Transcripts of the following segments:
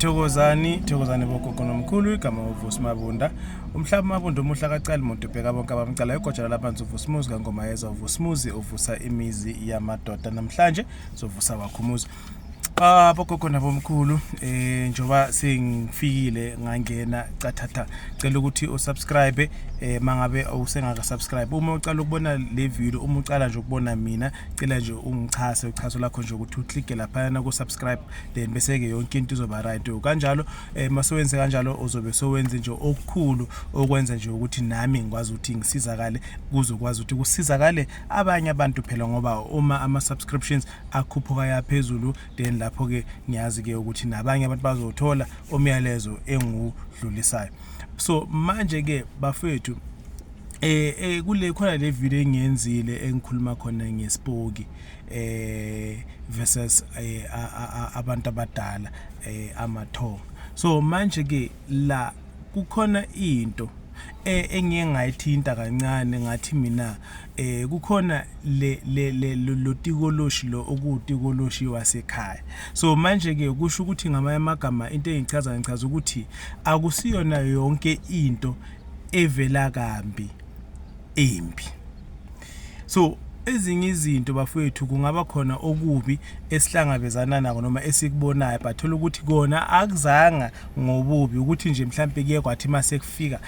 Thokozani, thokozani bogogo nomkhulu igama uVusi Mabunda. Umhlaba Mabunda umuhle akacali muntu ubheka bonke abamcala igojana labantu uVusi Muzi kangomayeza uVusi Muzi uvusa imizi yamadoda namhlanje sovusa wakho umuzi. Ah bogogo nabomkhulu eh njoba sengifikile ngangena cathatha cela ukuthi usubscribe eh mangabe usengaka subscribe uma ucala ukubona le video uma ucala nje ukubona mina cela nje ungichase uchaso lakho nje ukuthi u click lapha na ku subscribe then bese-ke yonke into izoba right kanjalo um masowenze kanjalo uzobe sowenze nje okukhulu okwenza nje ukuthi nami ngikwazi ukuthi ngisizakale kuzokwazi ukuthi kusizakale abanye abantu phela ngoba uma ama-subscriptions akhuphuka yaphezulu then lapho-ke ngiyazi-ke ukuthi nabanye abantu bazothola umyalezo engiwudlulisayo so manje-ke bafethu eh, eh kule khona le video engiyenzile engikhuluma khona ngespoki um eh versus eh, abantu abadala eh, amathonga so manje ke la kukhona into eh, engiye ngayithinta kancane ngathi mina eh kukhona le le le lotikoloshi lo okuwutikoloshi wasekhaya so manje ke kusho ukuthi ngamanye amagama into engichaza ngichaza ukuthi akusiyona yonke into evela kambi embi so ezinye izinto bafowethu kungaba khona okubi esihlangabezana nako noma esikubonayo but thola ukuthi kona akuzanga ngobubi ukuthi nje mhlawumpe kuye kwathi uma sekufika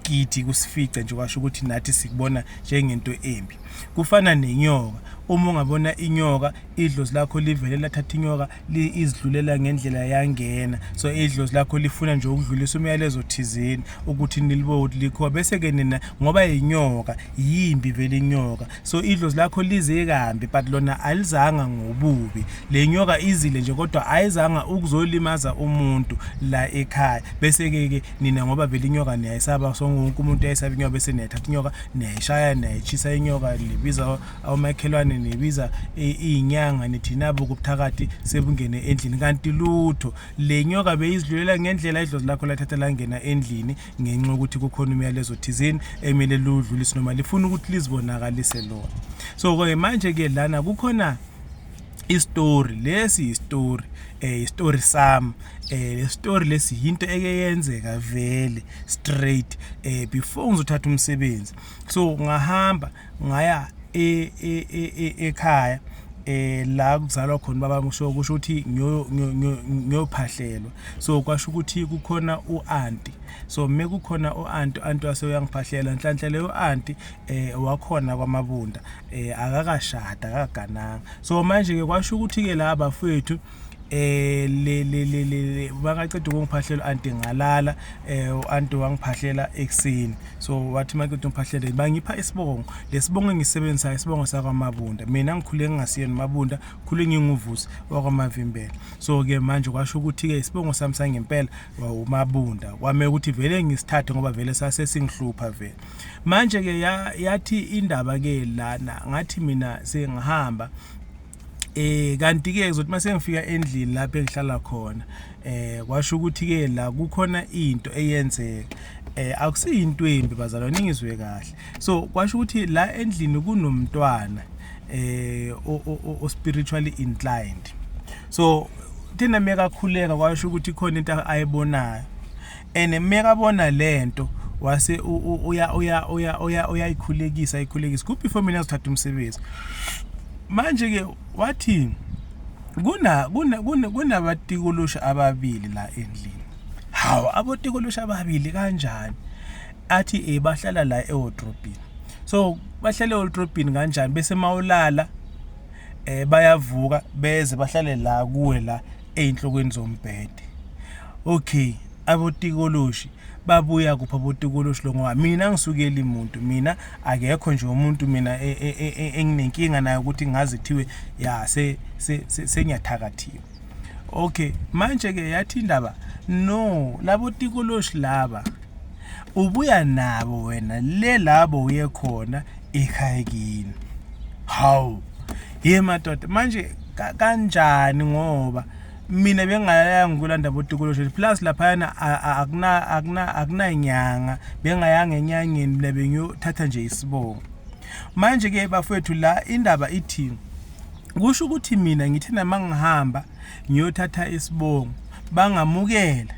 gidi kusifice nje kwasho ukuthi nathi sikubona njengento embi kufana nenyoka uma ungabona inyoka idlozi lakho livele lathatha inyoka izidlulela ngendlela yangena so idlozi lakho lifuna nje ukudlulisa umyalezo thizeni ukuthi niliboti likho bese-ke nina ngoba yinyoka yimbi vele inyoka so idlozi lakho lize kambi but lona alizanga ngobubi le nyoka izile nje kodwa ayizanga ukuzolimaza umuntu la ekhaya bese-ke ke nina ngoba vele inyoka niyayisaba so wonke umuntu ayisaba inyoka bese niyayithatha inyoka niyayishaya niyayitshisa inyoka libiza omakhelwane nibiza iyinyanga nithi nabo kubuthakathi sebungene endlini kanti lutho le nyoka beyizidlulela ngendlela idlozi lakho lathatha langena endlini ngenxa yokuthi kukhona umyalezo thizeni emele ludlulise noma lifuna ukuthi lizibonakalise lona so-ke eh, manje-ke lana kukhona isitori lesi yisitori eh isitori sami eh lesitori lesi yinto eke yenzeka vele straight eh before ngizothatha umsebenzi so ngahamba ngaya e, e, e, ekhaya eh la kuzalwa khona baba ngisho kusho ukuthi ngiyophahlelwa so kwasho ukuthi kukhona uanti so mme kukhona uanti anti wase uyangiphahlela nhlanhla leyo anti eh wakhona kwamabunda eh akakashada akagananga so manje ke kwasho ukuthi ke la bafethu eh le le le le bakaceda ukungiphahlela anti ngalala eh anti wangiphahlela ekseni so wathi makuthi ngiphahlele bangipha isibongo lesibongo engisebenzisayo isibongo sakwamabunda mina ngikhule ngingasiyena mabunda khule nginguvusi wakwamavimbela so ke manje kwasho ukuthi ke isibongo sami sangempela wawumabunda kwame ukuthi vele ngisithathe ngoba vele sase singihlupha vele manje ke yathi indaba ke lana ngathi mina sengihamba Eh kanti ke ngizothi mase ngifika endlini lapho engihlala khona eh kwasho ukuthi ke la kukhona into eyenzeka eh akusiyinto embi bazalwane ngizwe kahle so kwasho ukuthi la endlini kunomntwana eh o spiritually inclined so thina mekakhuleka kwasho ukuthi khona into ayibonayo and mekabona lento wase uya uya uya uya uyayikhulekisa ayikhulekisa kuphi for mina uzothatha umsebenzi manje ke wathi kuna kuna kunabatikolosha ababili la endlini hawu abotikolosha ababili kanjani athi eh bahlala la ewardrobe so bahlale ewardrobe kanjani bese mawulala eh bayavuka beze bahlale la kuwe la ey'nhlokweni zombhede okay abotikoloshi babuya kuphi abotikoloshi lo ngoba mina ngisukeli muntu mina akekho nje umuntu mina e, e, e, enginenkinga naye ukuthi ngaze kuthiwe ya sengiyathakathiwa okay manje-ke yathi indaba no labo tikoloshi laba ubuya nabo wena le labo uye khona ekhayekini hawu ye madoda manje kanjani ngoba mina bengayanga ukulanda botukulo sheshe plus laphayana akuna akuna akunanyanga bengayanga enyangeni mina bengiyothatha nje isibongo manje ke bafethu la indaba ithini kusho ukuthi mina ngithe nama ngihamba ngiyothatha isibongo bangamukela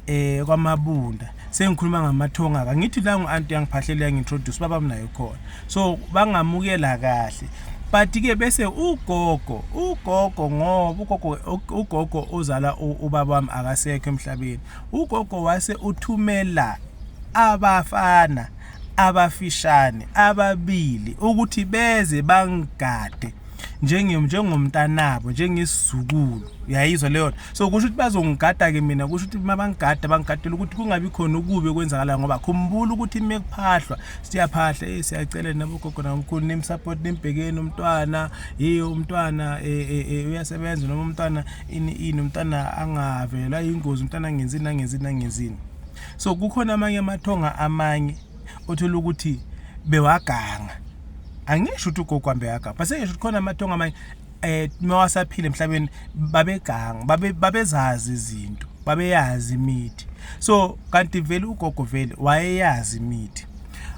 eh kwamabunda sengikhuluma ngamathonga ka ngithi la ngu-anti yangiphahlele yangi-introduce baba mnayo khona so bangamukela kahle but ke bese ugogo ugogo ngoba ugogo ugogo ozala ubaba wami akasekho emhlabeni ugogo wase uthumela abafana abafishane ababili ukuthi beze bangigade njengomntanabo njengesizukulu uyayizwa leyo nto so kusho ukuthi bazongigada-ke mina kusho ukuthi uma bangigada bangigadela ukuthi kungabi khona ukubi okwenzakalayo ngoba khumbula ukuthi uma kuphahlwa siyaphahla e siyacela nabogogo namkhulu nimsupport nimbhekeni umntwana ye umntwana eh, eh, eh, uyasebenza noma umntwana ini ini umntwana angavelwa yingozi umntwana angenzini angenzini angenzini so kukhona amanye amathonga amanye othola ukuthi bewaganga angisho ukuthi ugogo hambe yaganga base ngisho ukuthi khona amathongo amanye eh mawasaphila emhlabeni babeganga babe babezazi izinto babeyazi imithi so kanti vele ugogo vele wayeyazi imithi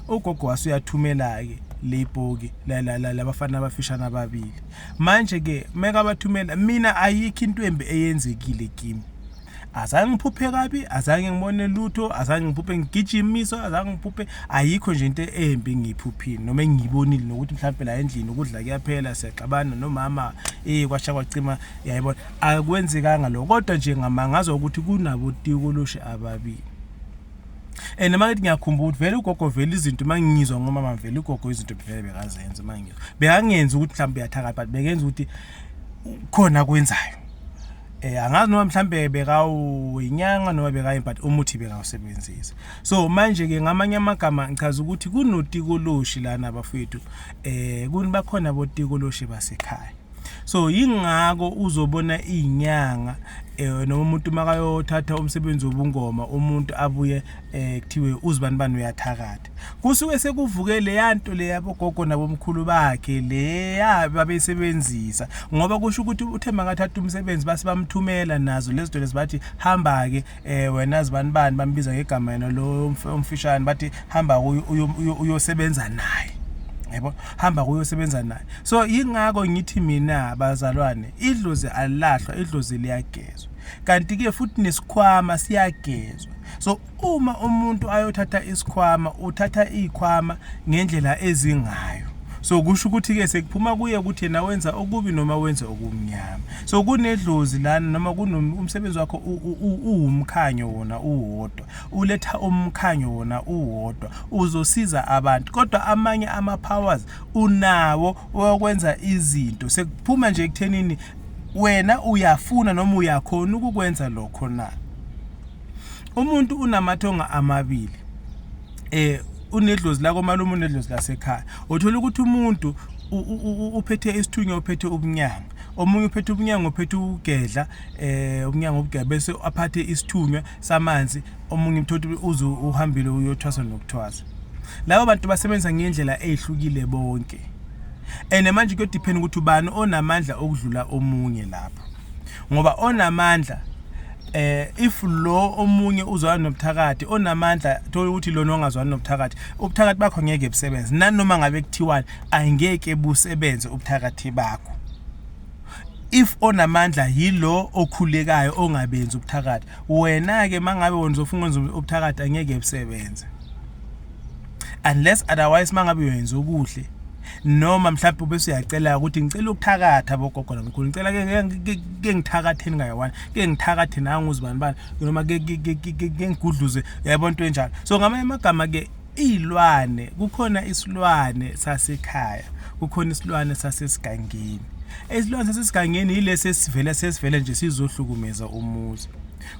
ugogo wasuyathumela ke leyipoki labafana abafishane ababili manje ke meka bathumela mina ayikho into embi eyenzekile kimi azange ngiphuphe kabi azange ngibone lutho azange ngiphuphe ngigijimiswa azange ngiphuphe ayikho nje into embi ngiyiphuphile noma engiyibonile nokuthi mhlawumbe la endlini ukudla kuyaphela siyaxabana nomama eh kwasha kwacima yayibona akwenzekanga lokho kodwa nje ngamangaza ukuthi kunabo tikoloshe ababili and uma ngithi ngiyakhumbula ukuthi vele ugogo vele izinto uma ngiyizwa ngomama vele ugogo izinto vele bekazenza uma ngiyizwa bekangenzi ukuthi mhlawumbe uyathakatha but bekenza ukuthi khona kwenzayo eh angazi noma mhlambe bekawuyinyanga noma bekayini but umuthi bekawusebenzisa so manje ke ngamanye amagama ngichaza ukuthi kunotikoloshi lana bafethu eh kuni bakhona botikoloshi basekhaya so yingako uzobona izinyanga eh noma umuntu makayothatha umsebenzi wobungoma umuntu abuye eh kuthiwe uzibani bani uyathakatha madoda kusuke sekuvuke leya nto leya bogogo nabomkhulu bakhe leya babeyisebenzisa ngoba kusho ukuthi uthe makathatha umsebenzi base bamthumela nazo lezi zinto lezi bathi hamba-ke um wena zibani bani bambiza ngegama yena lo omfishane bathi hamba uyosebenza naye yebo hamba kuyosebenza naye so ingakho ngithi mina bazalwane idlozi alilahlwa idlozi liyagezwa kanti ke futhi nesikhwama siyagezwa so uma umuntu ayothatha isikhwama uthatha izikhwama ngendlela ezingayo so kusho ukuthi ke sekuphuma kuye ukuthi yena wenza okubi noma wenza okumnyama so kunedlozi lana noma kunomsebenzi wakho uwumkhanyo wona uwodwa uletha umkhanyo wona uwodwa uzosiza abantu kodwa amanye ama powers unawo okwenza izinto sekuphuma nje ekuthenini wena uyafuna noma uyakhona ukukwenza lokho na umuntu unamathonga amabili eh unedlozi la komalume unedlozi lasekhaya uthola ukuthi umuntu uphethe isithunywa uphethe ubunyanga omunye uphethe ubunyango uphethe ukugedla eh ubunyango obugedla bese aphathe isithunywa samanzi omunye umthothi uze uhambile uyothwasa nokuthwasa labo bantu basebenzisa ngendlela ezihlukile bonke and manje kuyodepend ukuthi ubani onamandla okudlula omunye lapho ngoba onamandla eh if lo omunye uzwana nobuthakathi onamandla thola ukuthi lona ongazwani nobuthakathi ubuthakathi bakho ngeke busebenze nanoma ngabe kuthiwani angeke busebenze ubuthakathi bakho if onamandla yilo okhulekayo ongabenzi ubuthakathi wena ke mangabe wena uzofunga wenza ubuthakathi angeke busebenze unless otherwise mangabe uyenza okuhle noma mhlawumbe ube suyacela ukuthi ngicela ukuthakatha bogogo namkhulu ngicela ke ngithakatheni ngayiwani ke ngithakathe nangu uzibani bani noma ke ngigudluze yayibona into enjalo so ngamanye amagama ke iy'lwane kukhona isilwane sasekhaya kukhona isilwane sasesigangeni isilwane sasesigangeni yilesi esivele sesivele nje sizohlukumeza umuzi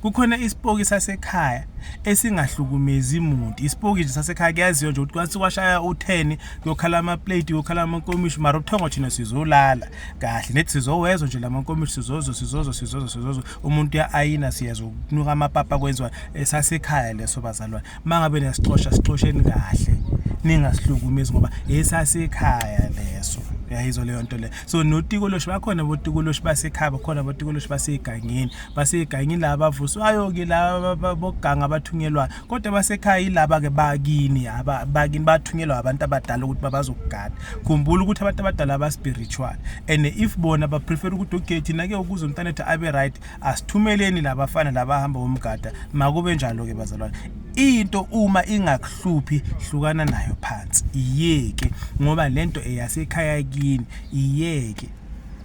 kukhona isipoki sasekhaya esingahlukumezi muntu isipoki nje sasekhaya kuyaziyo nje ukuthi kwase washaya u-10 kuyokhala amaplate kuyokhala amankomishi mara ubuthongo thina sizolala kahle nethi sizowezwa nje la mankomishi sizozo sizozo sizozo sizozo umuntu uya-ayina siyezwa ukunuka amapapa kwenziwa eh, sasekhaya leso bazalwane uma ngabe niyasixosha sixosheni kahle ningasihlukumi ngoba esasekhaya leso yayizwa leyo nto leyo so notikoloshi bakhona botikoloshi basekhaya bakhona botikoloshi basegangeni basekhaya ngilaba avuswayo ke laba boganga abathunyelwayo kodwa basekhaya yilaba ke bakini yaba bakini bathunyelwa abantu abadala ukuthi babazokugada khumbula ukuthi abantu abadala aba spiritual and if bona ba prefer ukuthi okay thina ke ukuze umntana ethu abe right asithumeleni labafana labahamba bomgada makube njalo ke bazalwane into uma ingakuhluphi hlukana nayo phansi iyeke ngoba lento eyasekhaya kini iyeke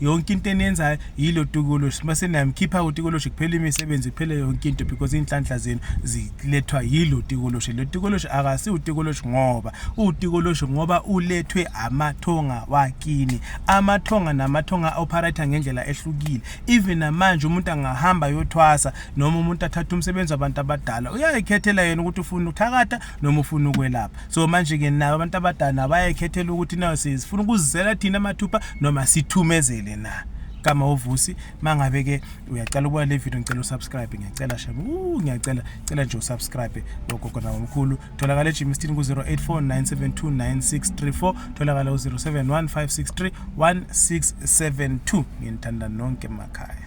yonke into eniyenzayo yilo tikoloshi mase niyamkhipha utikoloshi kuphela imisebenzi kuphele yonke into because iy'nhlanhla zenu zilethwa yilo tikoloshi lo tikoloshi akasi utikoloshi ngoba utikoloshi ngoba ulethwe amathonga wakini amathonga namathonga operator ngendlela ehlukile even namanje umuntu angahamba yothwasa noma umuntu athathe umsebenzi wabantu abadala uyayikhethela yena ukuthi ufuna uthakatha noma ufuna ukwelapha so manje-ke nabo abantu abadala bayekhethela ukuthi nayo sifuna ukuzizela thina amathupha noma sithumezele na gama wovusi mangabe ke uyacela ukuba le video ngicela usubscribe ngiyacela shema uh ngiyacela cela nje usubscribe logogo nawo omkhulu tholakala eGym Stin ku 0849729634 tholakala u 0715631672 nginithanda nonke emakhaya